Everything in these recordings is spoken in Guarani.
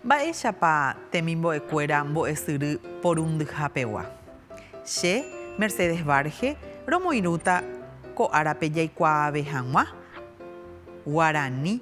Mba'éichapa temimbo'ekuéra mbo'esyry porundyhapegua? Che, Mercedes Varge, romoirũta ko árape jaikuaave hag̃ua Guarani.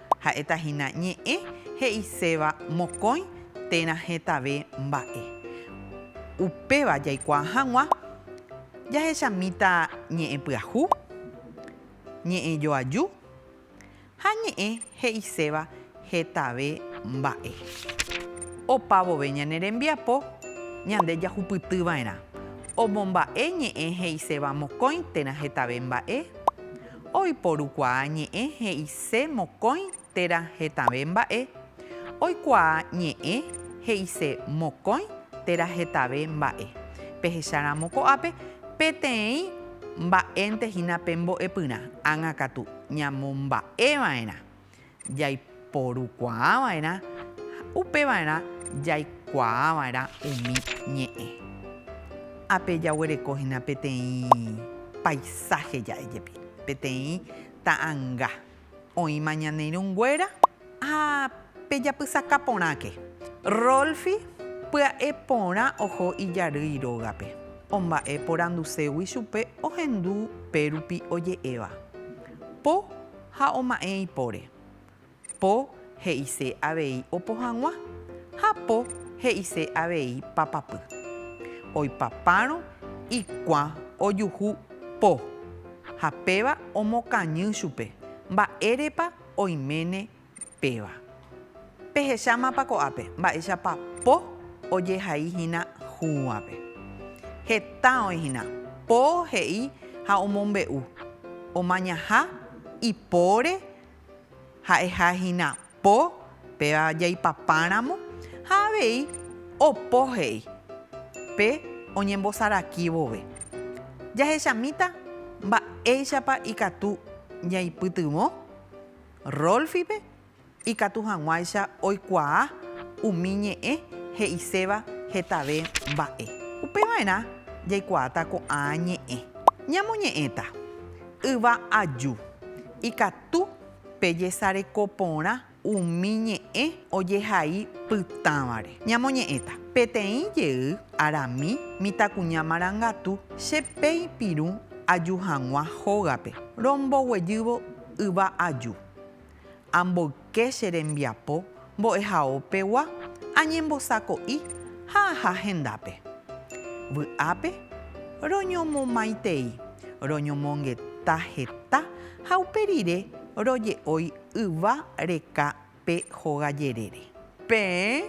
Ha'éta hína ñe'ẽ he'iséva mokõi térã hetave mba'e. Upéva jaikuaa hag̃ua jahechamíta ñe'ẽ pyahu, ñe'ẽ joaju ha ñe'ẽ he'iséva hetave mba'e. Opa vove ñane rembiapo ñande jahupyty va'erã omomba'e ñe'ẽ he'iséva mokõi térã hetave mba'e. Oiporukuaa ñe'ẽ he'ise mokõi térã hetave mba'e. Oikuaa ñe'ẽ he'ise mokõi térã hetave mba'e. Pehecha ramo ko'ápe peteĩ mba'énte hína pe mbo'epyrã, ág̃akatu ñamomba'eva'erã. jaiporukuaava'erã ha upeva'erã jaikuaava'erã umi ñe'ẽ. Ápe jaguereko hína peteĩ paisáhe ja'e jepi, peteĩ ta'anga oĩma ñane irũnguéra ha pe japysaka porãke. Rolfi pya'e porã oho ijarýi rógape, omba'e poranduségui chupe ohendu pérupi oje'éva, Po. Ha oma'ẽ ipóre. Po he'ise avei opo hag̃ua, ha po he'ise avei papapy. Oipapárõ ikuã ojuhu po, ha péva omokañy chupe, mba'érepa oiméne Péva. Pehechámapa ko'ápe mba'éichapa po ojehai hína hũvape. Heta oĩ hína po he'i ha omombe'u, omañaha ipóre ha'eha hína po péva jaipapáramo ha avei opo he'i pe oñembosarakí vove. Jahechamíta mba'éichapa ikatu jaipytyvõ Rolfipe ikatu hag̃uáicha oikuaa umi ñe'ẽ he'iséva hetave mba'e. Upeva'erã jaikuaáta ko'ã ñe'ẽ. Ñamoñe'ẽta, Yva aju. Ikatu pejesareko porã umi ñe'ẽ ojehai pytãvare. Ñamoñe'ẽta, Peteĩ jey arami mitãkuña marangatu che peĩ pirũ aju hag̃ua hógape, romboguejývo Yva aju. Amboyke che rembiapo mbo'ehao pegua añembosako'i ha aha hendápe. Vy'ápe roñomomaitei, roñomongeta heta ha upe rire roje'ói yva reka pe hóga jerére. Peẽ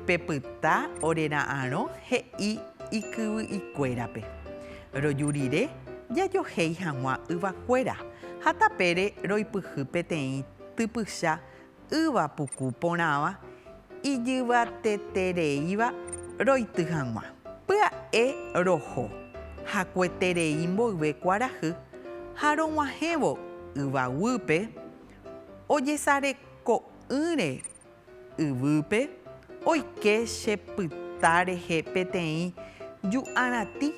pepyta ore ra'arõ he'i ikyvy'ikuérape, Roju rire jajohéi hag̃ua yvakuéra, ha tapére roipyhy peteĩ typycha yva puku porãva ijyvatetereíva roity hag̃ua. Pya'e roho hakueterei mboyve kuarahy ha rog̃uahẽvo yva guýpe, Ojesareko'ỹre yvýpe oike che pyta rehe peteĩ ju'arãti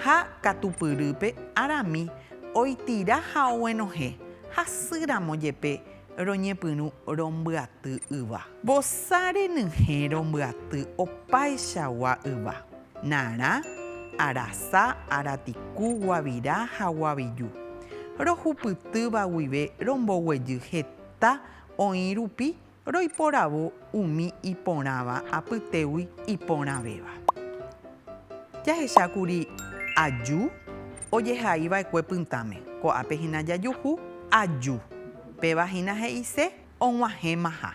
ha katupyrýpe arami oitira ha oguenohẽ hasy ramo jepe roñepyrũ rombyaty yva. Vosa renyhẽ rombyaty opaichagua yva. Narã, arasa, aratiku, guavira ha guaviju. Rohupytýva guive romboguejy heta oĩ rupi roiporavo umi iporãva apytégui iporãvéva. Jahecha kuri aju ojehaiva'ekue pytãme. Ko'ápe hína jajuhu aju. Péva hína he'ise og̃uahẽmaha.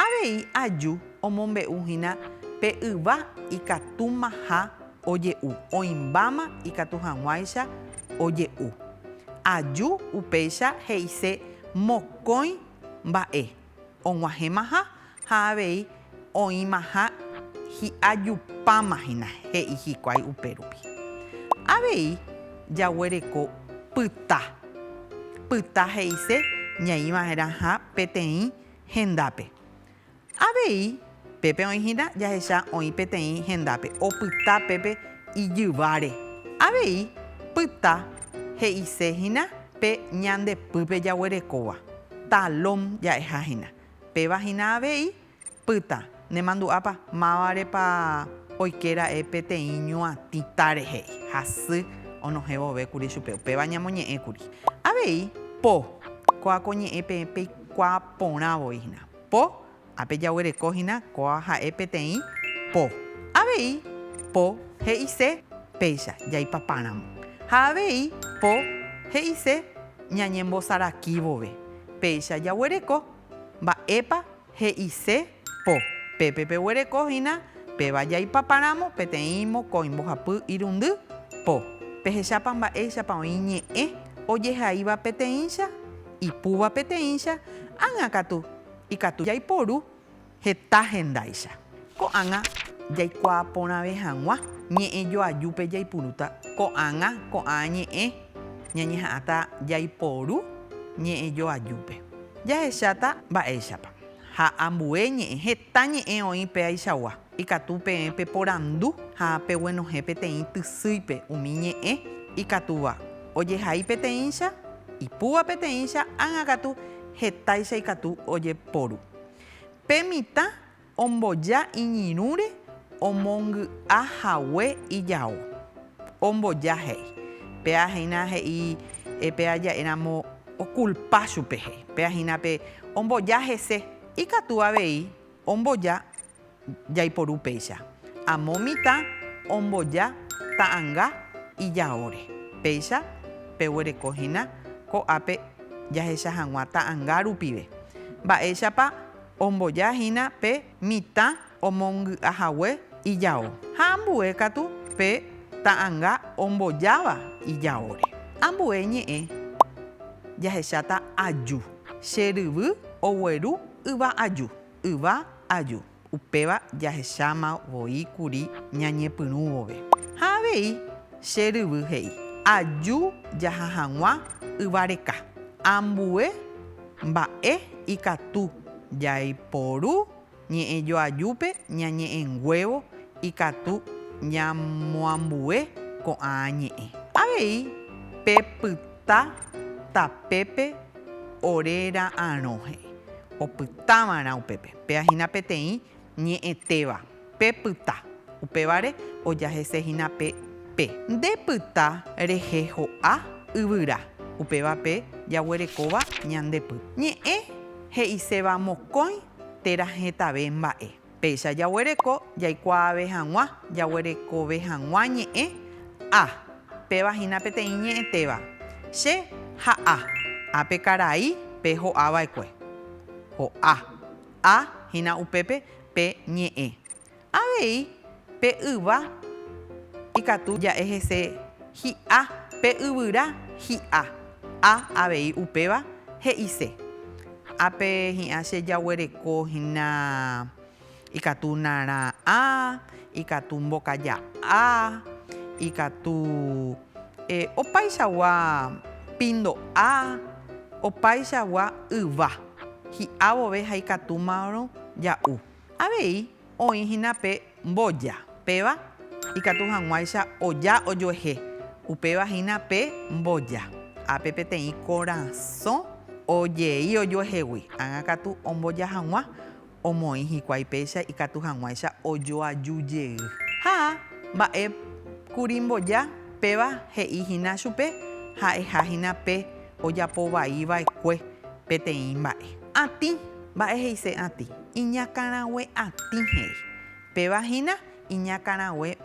Avei aju omombe'uhína pe yva ikatúmaha oje'u, oĩmbáma ikatu hag̃uáicha oje'u. Aju upéicha he'ise mokõi mba'e, og̃uahẽmaha ha avei Oĩmaha hi'ajupáma hína, he'i hikuái upérupi. Avei jaguereko pyta. Pyta he'ise ñaĩva'erãha peteĩ hendápe. Avei pépe oĩ hína jahecha oĩ peteĩ hendápe opyta pépe ijyváre. Avei pyta he'ise hína pe ñande pýpe jaguerekóva. Talón ja'eha hína. Péva hína avei, pyta, nemandu'ápa mávarepa oike ra'e peteĩ ñuatĩ táre he'i, hasy onohẽ vove kuri chupe, upéva ñamoñe'ẽ kuri. Avei, po, kóa ko ñe'ẽ peẽ peikuaa porã voi hína. Po, ápe jaguereko hína kóa ha'e peteĩ po. Avei, po, he'ise, péicha, jaipapa ramo. Ha avei, po, he'ise, ñañembosarakí vove. Péicha jaguereko. Mba'épa he'ise po? Pépe peguereko hína péva jaipaparamo peteĩ mokõi mbohapy irundy po. Pehechápa mba'éichapa oĩ ñe'ẽ ojehaíva peteĩcha, ipúva peteĩcha, ág̃akatu ikatu jaiporu. Heta hendáicha. Ko'ág̃a jaikuaa porãve hag̃ua ñe'ẽ joajúpe jaipurúta ko'ág̃a ko'ág̃a ñe'ẽ, ñañeha'ãta jaiporu ñe'ẽ joajúpe. Jahecháta mba'éichapa. Ha ambue ñe'ẽ, heta ñe'ẽ oĩ péaichagua. Ikatu peẽ peporandu ha peguenohẽ peteĩ tysýipe umi ñe'ẽ ikatúva, ojehai peteĩcha, ipúva peteĩcha, ág̃akatu hetáicha ikatu ojeporu. Pe mitã omboja iñirũre omongy'a hague ijao. Omboja he'i. Péa hína he'i péa ja'e ramo okulpa chupe he'i. Péa hína pe omboja hese. Ikatu avei omboja. jaiporu péicha. Amo mitã omboja ta'anga ijaóre. Péicha peguereko hína ko'ápe jahecha hag̃ua ta'anga rupive. Mba'éichapa omboja hína pe mitã omongy'a hague ijao ha ambue katu pe ta'anga ombojáva ijaóre. Ambue ñe'ẽ jahecháta aju. Che ryvy ogueru yva aju. Yva aju, upéva jahecháma voi kuri ñañepyrũ vove. Ha avei che ryvy he'i, Aju jaha hag̃ua yva reka. Ambue mba'e ikatu jaiporu ñe'ẽ joajúpe ñañe'ẽnguévo ikatu ñamoambue ko'ã ñe'ẽ. Avei pe pytã. Ta tapépe ore ra'arõ he'i, opytáva'erã upépe. Péva hína peteĩ ñe'ẽtéva, pe pyta. Upévare oja hese hína pe pe. Nde pyta rehe ho'a yvyra. Upéva pe jaguerekóva ñande py. Ñe'ẽ he'iséva mokõi térã hetave mba'e. Péicha jaguereko jaikuaave hag̃ua jaguerekove hag̃ua ñe'ẽ A. Péva hína peteĩ ñe'ẽtéva, Che ha A. A pe karai pe ho'ava'ekue. Ho'a. A hína upépe pe ñe'ẽ. Avei. Pe yva ikatu ja'e hese hi'a, pe yvyra hi'a. Ha avei upéva he'ise, Ápe hi'ã che jaguereko hína ikatu narã'a, ikatu mbokaja'á, ikatu opaichagua pindo'a, opaichagua yva hi'a vove ha ikatúmarõ ja'u. Avei. Oĩ hína pe mboja, péva ikatu hag̃uáicha oja ojoehe, upéva hína pe mboja, ápe peteĩ korasõ ojei ojoehegui, ág̃a katu omboja hag̃ua, omoĩ hikuái péicha ikatu hag̃uáicha ojoaju jey. Ha mba'e kuri mboja, péva he'i hína chupe ha'eha hína pe ojapovaiva'ekue peteĩ mba'e. Atĩ, mba'e he'ise atĩ. Iñakãrague atĩ he'i. Péva hína iñakãrague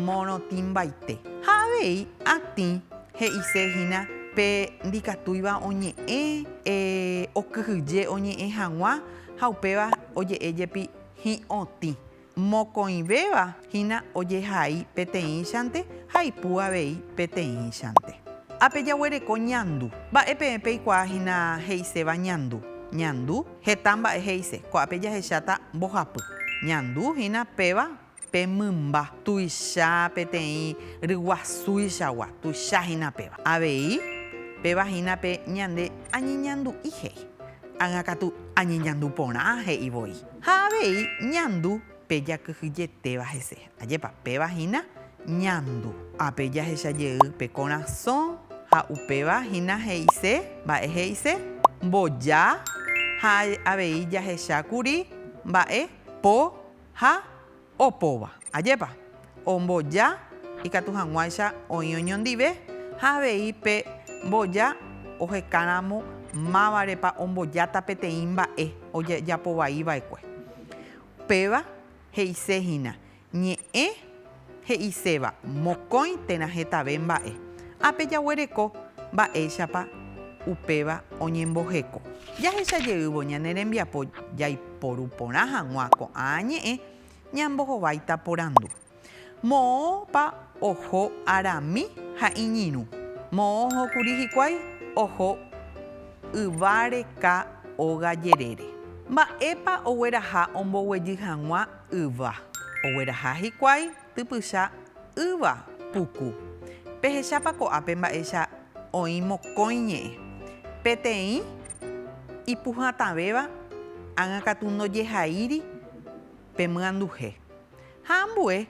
morotĩmbaite. Ha avei atĩ he'ise hína pe ndikatúiva oñe'ẽ, e, okyhyje oñe'ẽ hag̃ua ha upéva oje'e jepi hi'õtĩ. Mokõivéva Hína ojehai peteĩchante ha ipu avei peteĩchante. A Pejaguereko ñandu. Mba'e peẽ peikuaa hína he'iséva ñandu? Ñandu, heta mba'e he'ise. Ko'ápe jahecháta mbohapy. Ñandu hína péva pe mymba tuicha peteĩ ryguasúichagua, tuicha hína péva. Avei, péva hína pe ñande añeñandu'i he'i. Ág̃akatu añeñandu porã he'i voi. Ha avei, ñandu Pe jakyhyjetéva hese. Ajépa, péva hína ñandu. Ápe jahecha jey pe korasõ ha upéva hína he'ise, mba'e he'ise? Mboja ha avei jahecha kuri mba'e po ha opóva. Ajépa, omboja ikatu hag̃uáicha oĩ oñondive ha avei pe mboja ohekáramo mávarepa ombojáta peteĩ mba'e ojejapovaiva'ekue. Péva he'ise hína, ñe'ẽ he'iséva mokõi térã hetave mba'e. Ápe jaguereko mba'éichapa upéva oñemboheko. Jahecha jeývo ñane rembiapo jaiporu porã hag̃ua ko'ã ñe'ẽ, ñambohováita porandu. Moõpa oho arami ha iñirũ. Moõ oho kuri hikuái oho yva reka óga jerére. Mba'épa ogueraha omboguejy hag̃ua yva? Ogueraha hikuái typycha yva puku. Pehechápa ko'ápe mba'éicha oĩ mokõi ñe'ẽ. Peteĩ ipuhatãvéva ág̃a katu ndojehaíri pe myanduhe. Ha ambue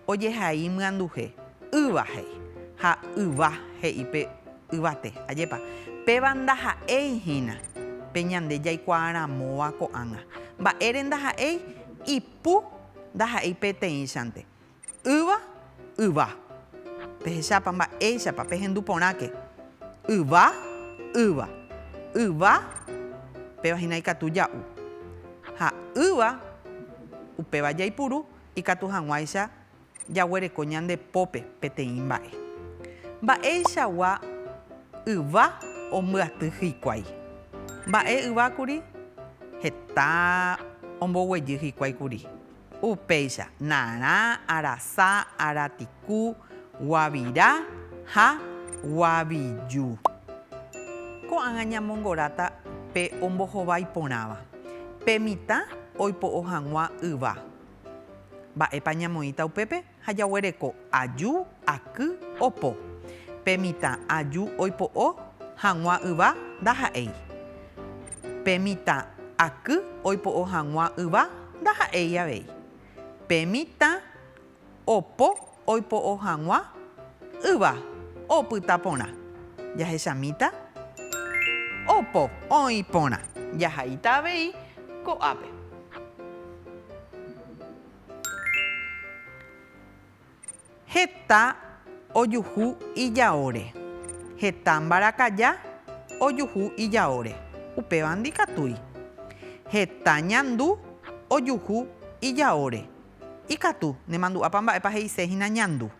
ojehai myanduhe, Yva he'i, ha Yva he'i pe yvate, Ajépa, péva ndaha'éi hína pe ñande jaikuaaramóva ko'ág̃a. Mba'ére ndaha'éi? Ipu ndaha'éi peteĩchante. Yva Yva. Pehechápa mba'éichapa pehendu porãke. Yva, ýva. Yva, péva hína ikatu ja'u. Ha ýva, upéva jaipuru ikatu hag̃uáicha jaguereko ñande pópe peteĩ mba'e. Mba'eichagua yva ombyaty hikuái. Mba'e yvákuri heta omboguejy hikuái kuri. Upéicha, narã, arasa, aratiku, guavira ha guaviju. Ko'ág̃a ñamongoráta pe ombohovái porãva. Pe mitã oipo'o hag̃ua yva. Mba'épa ñamoĩta upépe? Ha jaguereko aju, aky, opo. Pe mitã aju oipo'o hag̃ua yva ndaha'éi. Pe mitã aky oipo'o hag̃ua yva ndaha'éi avei. Pe mitã opo oipo'o hag̃ua yva opyta porã. Jahechamíta opo oĩ porã. Jahaíta avei ko'ápe. Heta ojuhu ijaóre. Heta mbarakaja ojuhu ijaóre. Upéva ndikatúi. Heta ñandu ojuhu ijaóre. Ikatu, nemandu'ápa mba'épa he'ise hína ñandu.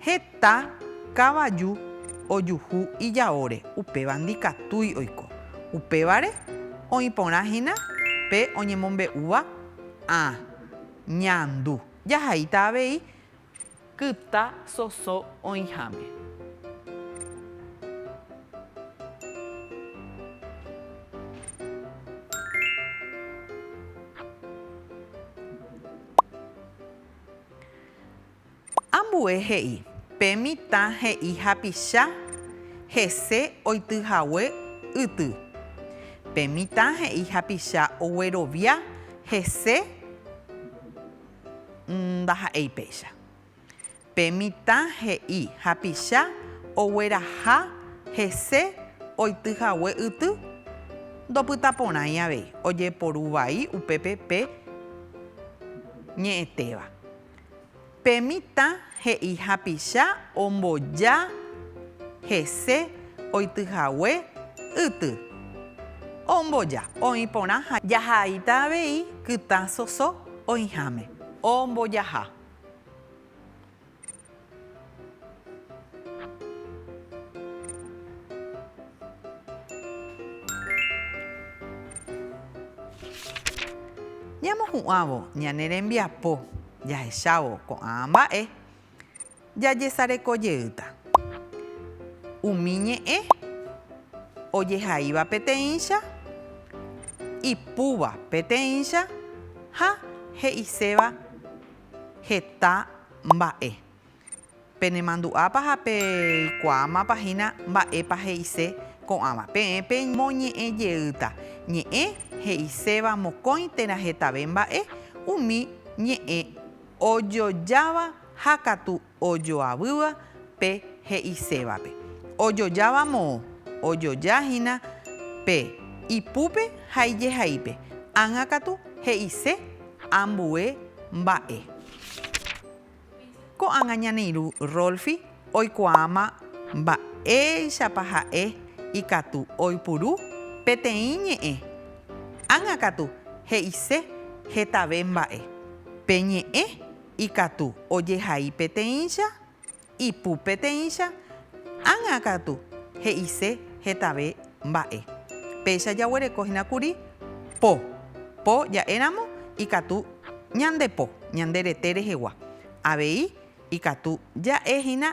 Heta kavaju ojuhu ijaóre, upéva ndikatúi oiko. Upévare, oĩ porã hína pe oñemombe'úva ã ñandu. Jahaíta avei kyta soso oĩháme. Ambue he'i, Pe mitã he'i hapicha hese oity hague yty. Pe mitã he'i hapicha oguerovia hese ndaha'éi péicha. Pe mitã he'i hapicha ogueraha hese oity hague yty ndopyta porãi avei ojeporu vai upépe pe ñe'ẽtéva. Pe mitã he'i hapicha omboja hese oity hague yty. Omboja oĩ porã ha jahaita avei kytã soso oĩháme. Ombojaha. Ñamohu'ãvo ñane rembiapo jahechávo ko'ã mba'e, jajesareko jeýta. Umi ñe'ẽ ojehaíva peteĩcha, ipúva peteĩcha ha he'iséva heta mba'e. Penemandu'ápa ha peikuaámapa hína mba'épa he'ise ko'ãva. Peẽ peñemoñe'ẽ jeýta ñe'ẽ he'iséva mokõi térã hetave mba'e umi ñe'ẽ ojojáva ha katu ojoavýva pe he'isévape. Ojojáva moõ, ojoja hína pe ipúpe ha ijehaípe, ág̃a katu he'ise ambue mba'e. Ko'ág̃a ñane irũ Rolfi oikuaáma mba'éichapa ha'e ikatu oipuru peteĩ ñe'ẽ, ág̃a katu he'ise hetave mba'e. Pe ñe'ẽ ikatu ojehai peteĩcha, ipu peteĩcha, ág̃a katu he'ise hetave mba'e. Péicha jaguereko hína kuri po. Po ja'éramo ikatu ñande po, ñande rete rehegua. Avei ikatu ja'e hína.